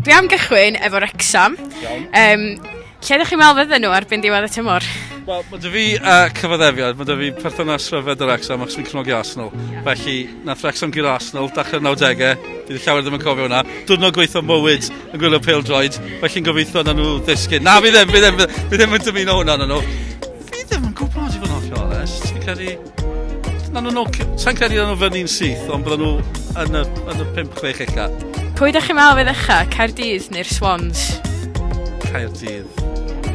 Dwi am gychwyn efo Wrecsam. Iawn. Yym lle ydych chi'n meddwl fydden nhw erbyn diwedd y tymor? Wel, mae dy fi uh, cyfaddefiad, mae dy fi perthynas rhyfedd yr Wrecsam achos fi'n cefnogi Arsenal. Yeah. Felly, nath Wrecsam gyda Arsenal, dachrau'r 90au, bydd llawer ddim yn cofio hwnna. Dwrnod gweithio mywyd yn gwylio pel droed, felly'n gobeithio na nhw ddisgyn. Na, fi ddim, fi ddim, fi ddim yn dymuno hwnna na nhw. Fi ddim yn gwybod i fod yn hollol onest. Fi'n credu Na, na, no, sa'n credu nhw fyny'n syth, ond bydden nhw yn y, yn y 5-6 ella. Pwy ydych chi'n meddwl fe ddecha, Caerdydd neu'r Swans? Caerdydd.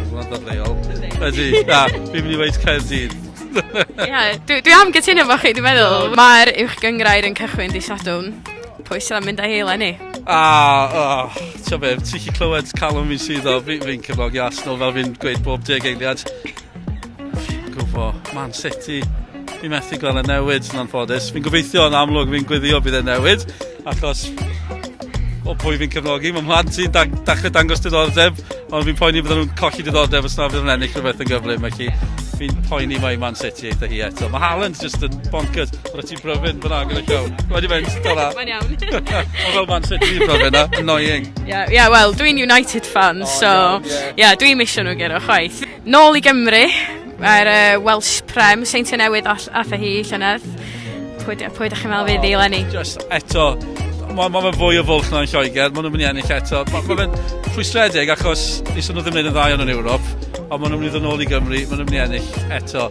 Hwna'n dod leol. Ydy, na, fi'n mynd i weid Caerdydd. Ia, dwi, dwi am gytuno fo chi, dwi'n meddwl. Mae'r uwch gyngrair yn cychwyn di Sadwn. Pwy sydd am mynd â hi eleni? A, o, ti'n be, ti'n chi clywed calon fi'n sydd o, fi'n fi cefnogi Arsenal fel fi'n gweud bob deg eiliad. Gwbo, Man City. Fi methu gweld y newid yn anffodus. Fi'n gobeithio yn amlwg fi'n gwyddio bydd e'n newid, achos o pwy fi'n cefnogi. Mae mhlant sy'n da dachrau dangos diddordeb, ond fi'n poeni bydden nhw'n colli diddordeb os na fydd yn ennill rhywbeth yn gyflym. Felly, fi'n poeni mae Man City eitha hi eto. Mae Haaland just yn bonkers. Rwy'n ti'n bryfyn fyna gyda llaw. Wedi mynd, dyna. Mae'n iawn. Mae fel Man City yn bryfyn na. Annoying. Ie, yeah, yeah, wel, dwi'n United fan, oh, so... Ie, yeah, yeah. yeah, dwi'n misio nhw gero, chwaith. Nôl i Gymru, mae'r uh, Welsh Prem, Seintiau Newydd all, atho hi llynedd. Pwy, pwy da chi'n meddwl fydd i Lenny? Just eto, mae ma fe fwy o fwlch na'n Lloegr, maen nhw'n mynd i ennill eto. Mae ma fe'n rhwystredig achos nes nhw ddim yn yn dda iawn yn Ewrop, ond maen nhw'n mynd i ddod nôl i Gymru, maen nhw'n mynd i ennill eto.